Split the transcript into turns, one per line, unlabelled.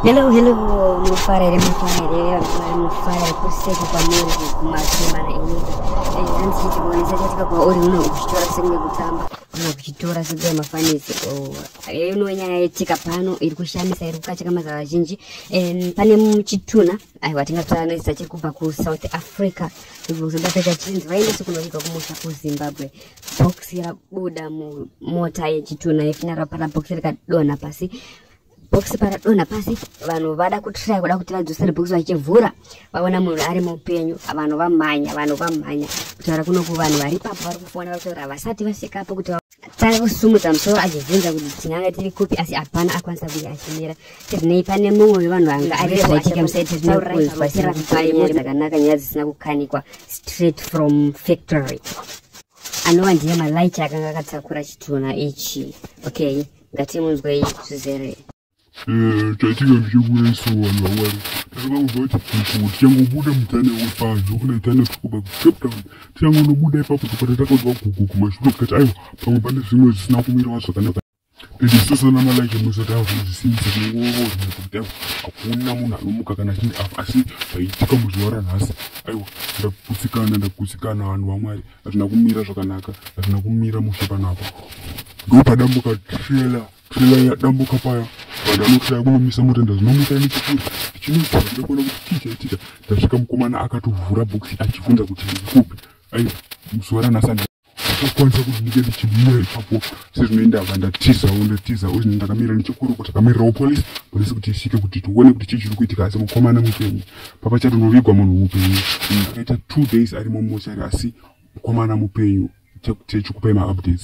Hello, hello, munofara here munofara here vanofara munofara here kuseka kwamuri kumasema na ini eh, hanzi chiti kuonesa chatika kwauri una kuchitora sekunge kutamba una kuchitora sekuya mafanisi eh, uno nyaya yetika pano iri kushamisa iri kukacheka mazava vazhinji eh, pane muchituna aiwa tingatoanoisa chiri kubva kusouth africa kuzoda peta chinzi vaendese kunovigwa kumusha kuzimbabwe bhokisi rabuda mumota yechitunha yefinyara rapara bhokisi rikadonha pasi bhokisi paradonha pasi vanhu vada kutraya kuda kuti vadzosere bhokisi vachivhura vaona munhu ari mupenyu vanhu vamhanya vanhu vamhanya kutaura kunoku vanhu vari papo vari kufona vari kutaura vasati vasvikapo kuti tanga kusumudza musoro achibvunza kuti tinanga tiri kupi asi hapana akwanisa kunge achimira tirinei pane mumwe wevanhu vanga ari zvaitika musaitirina kunzwa sirikupaia dzakanaka nyaya dzisina kukanikwa straight from factory anova ndiye malight akanga akatakura chitunha ichi okay ngatimunzwei zvizere
chaitika ndichekuda isu vanhu vawari takakangobva kuti kuku tichangobuda mutane wepadzo kuna itane tikuba kucape town tichangonobuda ipapo topata takanzwa kuku kumashure tikati aiwa pamwe pane zvimwe zvisina kumirawa zvakanaka ndisosana malike musataura kuti zvisinzi nekuda hakuna munhu anomuka kana chii apa asi zvaitika muzuva ranhasi aiwa ndakutsikana ndakutsikana vanhu vamwari hazvina kumira zvakanaka hazvina kumira mushe panapa ndopadambuka trela trela yadambuka paya vanhu vanotraya kunomisa mota ndazinomuka nechikuri ndichinozaa ndakona kuti chii chaitika ndasvika mukomana akatovhura bhokisi achibvunza kuti ndikupi aiwa muzuva ranhasi kukwanisa kuti ndinge ndichibuya ipapo sezvinoenda va ndatizawo ndatizawo zvinhu ndakamira nechekuruko takamirirawo polisi polisi kuti isvike kuti tione kuti chii chiri kuitika asi mukomana mupenyu papa chatonovigwa munhu mupenyu akaita two days ari mumochari asi mukomana mupenyu chekupai maupdates